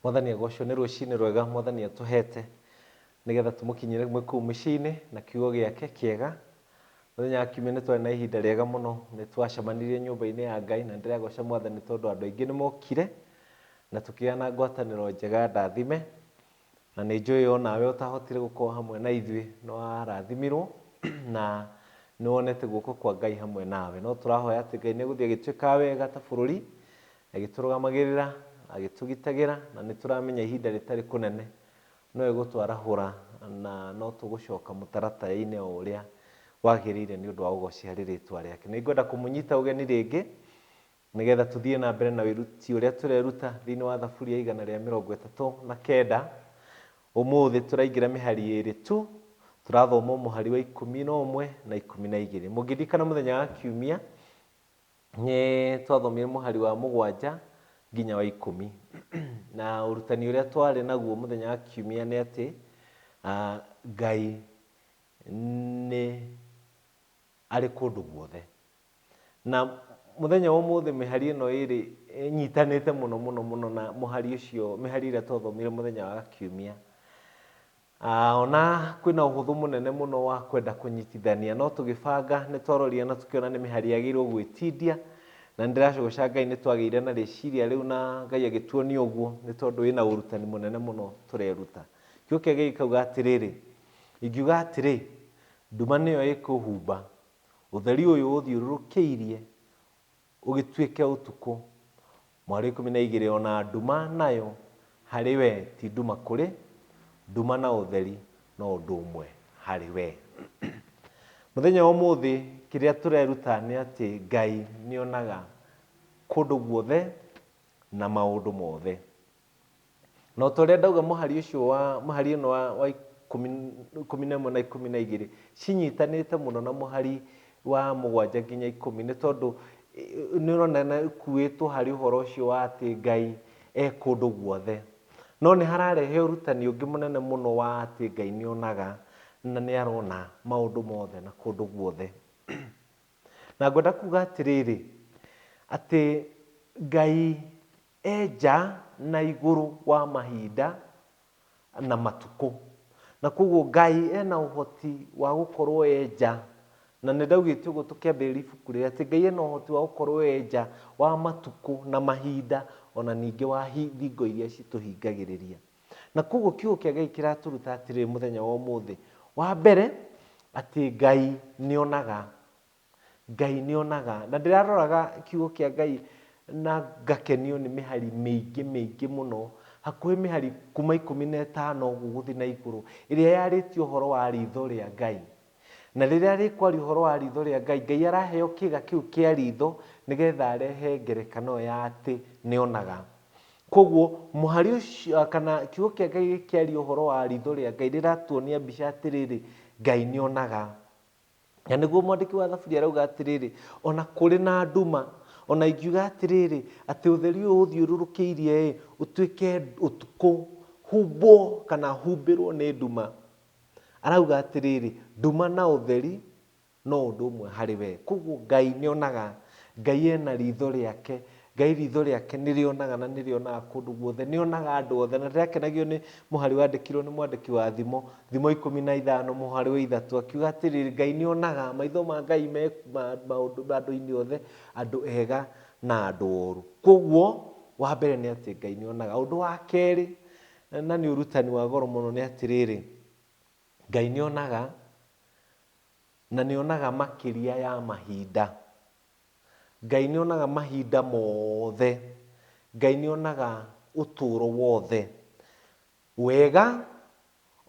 Mwathani agocwo nĩ rũcinĩ rwega Mwathani atũhete nĩgetha tũmũkinyĩre mwĩ kũu mĩciĩ-inĩ na kiugo gĩake kĩega. Mũthenya wa kiumia nĩtwarĩ na ihinda rĩega mũno, nĩtwacemanirie nyũmba-inĩ ya Ngai na nĩndĩragoca Mwathani tondũ andũ aingĩ nĩmokire na tũkĩgĩa na ngwatanĩro njega ndathime. Na nĩnjũĩ onawe ũtahotire gũkorwo hamwe na ithuĩ nĩwarathimirwo na nĩwonete guoko kwa Ngai hamwe nawe. No tũrahoya atĩ Ngai nĩegũthiĩ agĩtwĩkaga wega ta bũrũri Agĩtũrũgamagĩrĩra, agĩtũgitagĩra, na nĩ tũramenya ihinda rĩtarĩ kũnene no egũtwarahũra na no tũgũcoka mũtaratara-inĩ o ũrĩa wagĩrĩire nĩ ũndũ wa ũgoci harĩ rĩtwa rĩake. Nĩ ngwenda kũmũnyita ũgeni rĩngĩ nĩ getha tũthiĩ na mbere na wĩruti ũrĩa tũreruta thĩinĩ wa Thaburi ya igana rĩa mĩrongo ĩtatũ na kenda. Ũmũthĩ tũraingĩra mĩhari ĩrĩ tu, tũrathoma mũhari wa ikũmi na ũmwe na ikũmi na igĩrĩ. Mũngĩririkana mũthenya wa kiumia, nĩ twathomire mũhari wa mũgwanja nginya wa ikũmi na ũrutani ũrĩa twarĩ naguo mũthenya wa kiumia nĩ atĩ ah, ngai nĩ arĩ kũndũ guothe na mũthenya wa ũmũthĩ mĩhari ĩno ĩrĩ ĩnyitanĩte mũno mũno mũno na mũhari ũcio mĩhari ĩrĩa twathomire mũthenya wa kiumia A O na kwĩna ũhũthũ mũnene mũno wa kwenda kũnyitithania, no tũgĩbanga nĩ twarorire na tũkĩona nĩ mĩhari yagĩrĩirwo gwĩtindia, na nĩ ndĩracũgũca Ngai nĩ twagĩire na rĩciria rĩu na Ngai agĩtuonia ũguo nĩ tondũ wĩna ũrutani mũnene mũno tũreruta. Kiugo kĩake gĩkauga atĩrĩrĩ, Ingiuga atĩrĩ, nduma nĩyo ĩkũhumba, ũtheri ũyũ ũthiũrũrũkĩirie Ũgĩtuĩke ũtukũ. Mwarĩ ikũmi na igĩrĩ o na nduma nayo harĩ we ti nduma kũrĩ nduma na ũtheri no ũndũ ũmwe harĩ we. Mũthenya wa ũmũthĩ kĩrĩa tũreruta nĩ atĩ Ngai nĩonaga kũndũ guothe na maũndũ mothe. Na o ta ũrĩa ndauga mũhari ũcio wa, mũhari ũno wa, wa ikũmi, ikũmi na ĩmwe na ikũmi na igĩrĩ cinyitanĩte mũno na mũhari wa mũgwanja nginya ikũmi nĩ tondũ ĩ- nĩ ũrona na ikuĩtwo harĩ ũhoro ũcio wa atĩ Ngai e kũndũ guothe. No nĩ hararehe ũrutani ũngĩ mũnene mũno wa atĩ Ngai nĩ onaga na nĩ arona maũndũ mothe na kũndũ guothe. Na ngwenda kuga atĩrĩrĩ, atĩ Ngai E nja na igũrũ wa mahinda na matukũ. Na kwoguo Ngai ena ũhoti wa gũkorwo e nja, na nĩ ndaugĩte ũguo tũkĩambĩrĩria ibuku rĩrĩ, atĩ Ngai ena ũhoti wa gũkorwo e nja wa matukũ na mahinda, ona ningĩ wa thingo iria citũhingagĩrĩria. Na kwoguo kiugo kĩa Ngai kĩratũruta atĩrĩrĩ mũthenya wa ũmũthĩ, wa mbere, atĩ Ngai nĩ onaga Ngai nĩ onaga. Na ndĩraroraga kiugo kĩa Ngai na ngakenio nĩ mĩhari mĩingĩ mĩingĩ mũno, hakuhĩ mĩhari kuma ikũmi na ĩtano ũguo gũthiĩ na igũrũ, ĩrĩa yarĩtie ũhoro wa ritho rĩa Ngai. Na rĩrĩa rĩkwaria ũhoro wa ritho rĩa Ngai, Ngai araheo kĩga kĩu kĩa ritho nĩgetha arehe ngerekano ĩyo ya atĩ nĩ onaga. Koguo mũhari ũcio kana kiugo kĩa Ngai gĩkĩaria ũhoro wa ritho rĩa Ngai rĩratuonia mbica atĩrĩrĩ, Ngai nĩ onaga. Na nĩguo mwandĩki wa Thaburi arauga atĩrĩrĩ, O na kũrĩ na nduma, o na ingiuga atĩrĩrĩ, atĩ ũtheri ũyũ ũũthiũrũrũkĩirie-ĩ, ũtuĩke ũtukũ, humbwo, kana humbĩrwo nĩ nduma. Arauga atĩrĩrĩ, nduma na ũtheri no ũndũ ũmwe harĩ we. Kwoguo Ngai nĩonaga, Ngai ena riitho rĩake, Ngai riitho rĩake nĩrĩonaga na nĩrĩonaga kũndũ guothe, nĩonaga andũ othe, na ndĩrakenagio nĩ mũhari wandĩkirwo nĩ mwandĩki wa thimo, thimo ikũmi na ithano mũhari wa ithatũ, akiuga atĩrĩrĩ, Ngai nĩonaga, maitho ma Ngai me ma maũndũ andũ-inĩ othe, andũ ega na andũ oru. Koguo, wa mbere nĩ atĩ Ngai nĩonaga. Ũndũ wa kerĩ, na nĩ ũrutani wa goro mũno nĩ atĩrĩrĩ, Ngai nĩonaga, na nĩonaga makĩria ya mahinda. Ngai nĩonaga mahinda mothe. Ngai nĩonaga ũtũũro wothe. Wega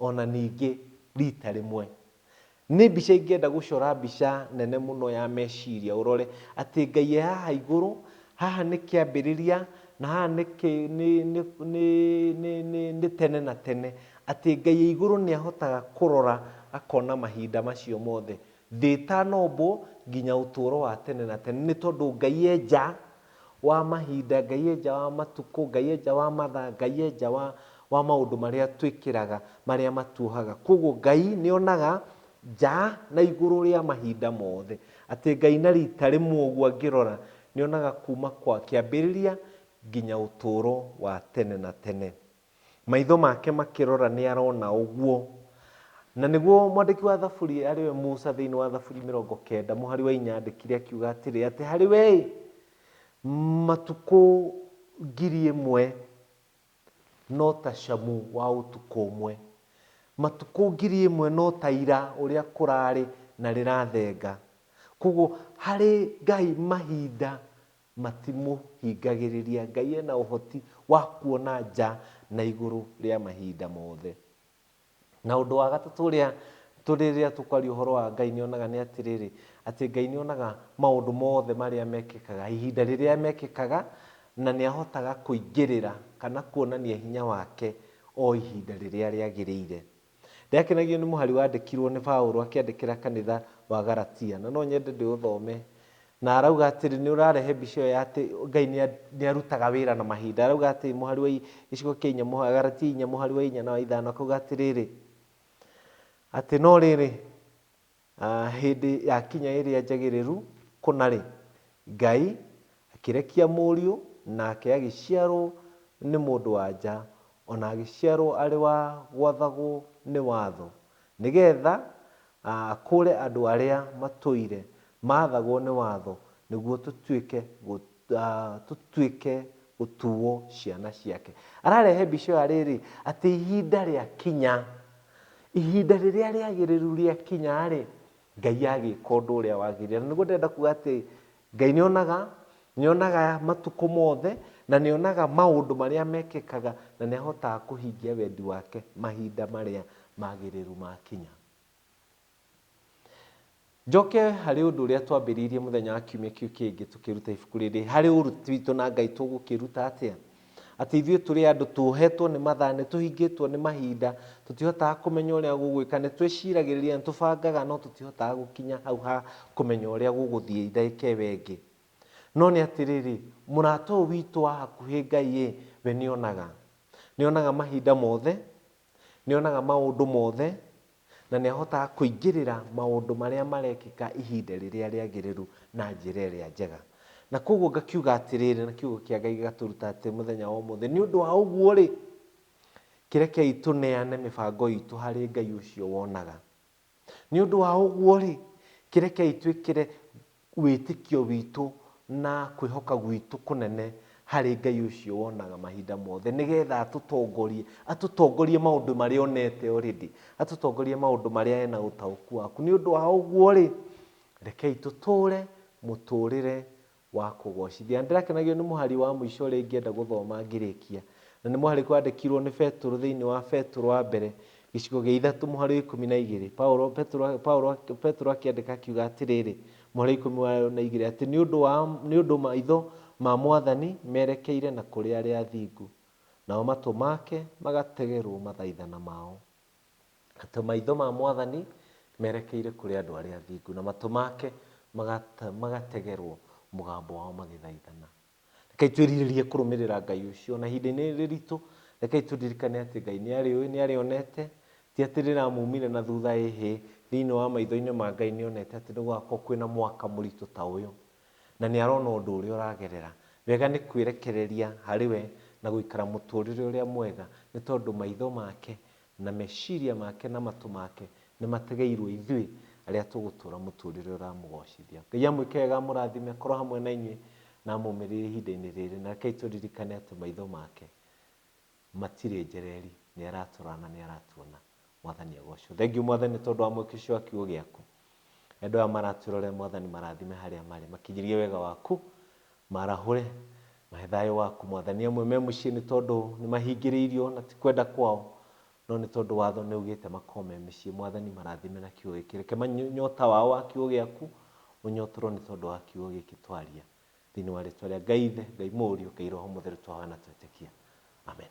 o na ningĩ rita rĩmwe. Nĩ mbica ingĩenda gũcora mbica nene mũno ya meciria ũrore atĩ Ngai e haha igũrũ, haha nĩ kĩambĩrĩria na haha nĩ kĩ, nĩ, nĩ, nĩ, nĩ, nĩ, nĩ tene na tene. Atĩ Ngai e igũrũ nĩahotaga kũrora akona mahinda macio mothe. Ndĩtanombwo nginya ũtũũro wa tene na tene, nĩ tondũ Ngai e nja wa mahinda, Ngai e nja wa matukũ, Ngai e nja wa mathaa, Ngai e nja wa wa maũndũ marĩa twĩkĩraga marĩa matuohaga. Kwoguo Ngai nĩ onaga nja na igũrũ rĩa mahinda mothe. Atĩ Ngai na rita rĩmwe ũguo angĩrora, nĩ onaga kuuma kwa kĩambĩrĩria nginya ũtũũro wa tene na tene. Maitho make makĩrora nĩ arona ũguo. Na nĩguo mwandĩki wa Thaburi arĩ we Musa thĩinĩ wa Thaburi mĩrongo kenda mũhari wa inya andĩkire akiuga atĩrĩ, atĩ harĩ we-ĩ, matukũ ngiri ĩmwe no ta camu wa ũtukũ ũmwe, matukũ ngiri ĩmwe no ta ira ũrĩa kũrarĩ na rĩrathenga. Koguo harĩ Ngai mahinda Matimũhingagĩrĩria. Ngai ena ũhoti wa kuona nja na igũrũ rĩa mahinda mothe. Na ũndũ wa gatatũ ũrĩa rĩrĩa tũkwaria ũhoro wa Ngai nĩ onaga nĩ atĩrĩrĩ, atĩ Ngai nĩ onaga maũndũ mothe marĩa mekĩkaga, ihinda rĩrĩa mekĩkaga, na nĩ ahotaga kũingĩrĩra kana kuonania hinya wake o ihinda rĩrĩa rĩagĩrĩire. Ndĩakenagio nĩ mũhari wandĩkirũo nĩ Paulo akĩandĩkĩra kanitha wa Galatia, na no nyende ndĩũthome. Na arauga atĩrĩ, nĩ ũrarehe mbica ĩyo ya atĩ Ngai nĩ arutaga wĩra na mahinda. Arauga atĩrĩ, mũhari wa gĩcigo kĩa inya, Galatia inya mũhari wa inya na wa ithano, akauga atĩrĩrĩ, atĩ no rĩrĩ, A Hĩndĩ yakinya ĩrĩa njagĩrĩru kũna-rĩ, Ngai akĩrekia mũriũ, nake agĩciarwo nĩ mũndũ-wa-nja, o na agĩciarwo arĩ wa gwathagwo nĩ watho, nĩ getha akũũre andũ arĩa matũire maathagwo nĩ watho, nĩguo tũtuĩke tũtuĩke gũtuwo ciana ciake. Ararehe mbica ĩyo arĩ rĩ, atĩ ihinda rĩa kinya, ihinda rĩrĩa rĩagĩrĩru rĩa kinya rĩ, Ngai agĩka ũndũ ũrĩa wagĩrĩire. Na nĩguo ndĩrenda kuga atĩ Ngai nĩ onaga, nĩ onaga matukũ mothe, na nĩ onaga maũndũ marĩa mekĩkaga, na nĩ ahotaga kũhingia wendi wake mahinda marĩa magĩrĩru makinya. Njoke harĩ ũndũ ũrĩa twambĩrĩirie mũthenya wa kiumia kĩu kĩngĩ tũkĩruta ibuku rĩrĩ, harĩ ũruti witũ na Ngai tũgũkĩruta atĩa? Atĩ ithuĩ tũrĩ andũ tuohetwo nĩ mathaa, nĩ tũhingĩtwo nĩ mahinda, tũtihotaga kũmenya ũrĩa gũgwĩka, nĩ twĩciragĩrĩria, nĩ tũbangaga no tũtihotaga gũkinya hau ha kũmenya ũrĩa gũgũthiĩ ndagĩka ĩyo ĩngĩ. No nĩ atĩrĩrĩ, mũrata ũyũ witũ wa hakuhĩ Ngai-ĩ, we nĩ onaga. Nĩ onaga mahinda mothe, Nĩ onaga maũndũ mothe, na nĩ ahotaga kũingĩrĩra maũndũ marĩa marekĩka ihinda rĩrĩa rĩagĩrĩru na njĩra ĩrĩa njega. Na kwoguo ngakiuga atĩrĩrĩ, na kiugo kĩa Ngai gĩgatũruta atĩ mũthenya wa ũmũthĩ, nĩ ũndũ wa ũguo-rĩ, kĩrekei tũneane mĩbango itũ harĩ Ngai ũcio wonaga. Nĩ ũndũ wa ũguo-rĩ, kĩrekei twĩkĩre wĩtĩkio witũ na kwĩhoka gwitũ kũnene harĩ Ngai ũcio wonaga mahinda mothe, nĩgetha atũtongorie, atũtongorie maũndũ marĩa onete already, atũtongorie maũndũ marĩa ena ũtaũku waku. Nĩ ũndũ wa ũguo-rĩ, rekei tũtũre mũtũrĩre wa kũgoocithia. Na ndĩrakenagio nĩ mũhari wa mũico ũrĩa ingĩenda gũthoma ngĩrĩkia. Na nĩ mũhari wandĩkirwo nĩ Petũrũ thĩinĩ wa Petũrũ wa mbere, gĩcigo gĩa ithatũ, mũhari wa ikũmi na igĩrĩ. Paulo, Petũrũ, Paulo, Petũrũ akĩandĩka akiuga atĩrĩrĩ, mũhari wa ikũmi wa- na igĩrĩ, atĩ nĩ ũndũ wa, nĩ ũndũ maitho ma Mwathani merekeire na kũrĩ arĩa athingu, nao matũ make magategerwo mathaithana mao. atĩ maitho ma Mwathani merekeire kũrĩ andũ arĩa athingu, na matũ make magata- magategerwo mũgambo wao magĩthaithana. Rekei twĩrirĩrie kũrũmĩrĩra Ngai ũcio. Ona ihinda-inĩ rĩrĩ riritũ, rekei tũririkane atĩ Ngai nĩ arĩũĩ, nĩ arĩonete, ti atĩ rĩramumire na thutha ĩhĩ, thĩinĩ wa maitho-inĩ ma Ngai nĩ onete atĩ nĩ gũgakorwo kwĩna mwaka mũritũ ta ũyũ, na nĩ arona ũndũ ũrĩa ũragerera. Wega nĩ kwĩrekereria harĩ we na gũikara mũtũrĩre ũrĩa mwega, nĩ tondũ maitho make Na meciria make na matũ make nĩ mategeirwo ithuĩ arĩa tũgũtũũra mũtũũrĩre ũramũgoocithia. Ngai amwĩke wega amũrathime, akorwo hamwe na inyuĩ, na amũũmĩrĩrie ihinda-inĩ rĩrĩ. Na rekei tũririkane atĩ maitho make matirĩ njereri, nĩ aratũrora na nĩ aratuona. Mwathani agoocwo. Thengiũ Mwathani nĩ tondũ wa mwĩkĩcĩo wa kiugo gĩaku. Andũ aya maratwĩrorera Mwathani marathime harĩa marĩ, makinyĩrie wega waku, marahũre, mahe thayũ waku Mwathani. Amwe me mũciĩ nĩ tondũ nĩ mahingĩrĩirio na ti kwenda kwao, no nĩ tondũ watho nĩ ugĩte makorwo me mĩciĩ. Mwathani marathime na kiugo gĩkĩ, reke nyota wao wa kiugo gĩaku ũnyotorwo nĩ tondũ wa kiugo gĩkĩ twaria. Thĩinĩ wa rĩtwa rĩa Ngai Ithe, Ngai Mũriũ, Ngai Roho Mũtheru twahoya na twetĩkia. Amen.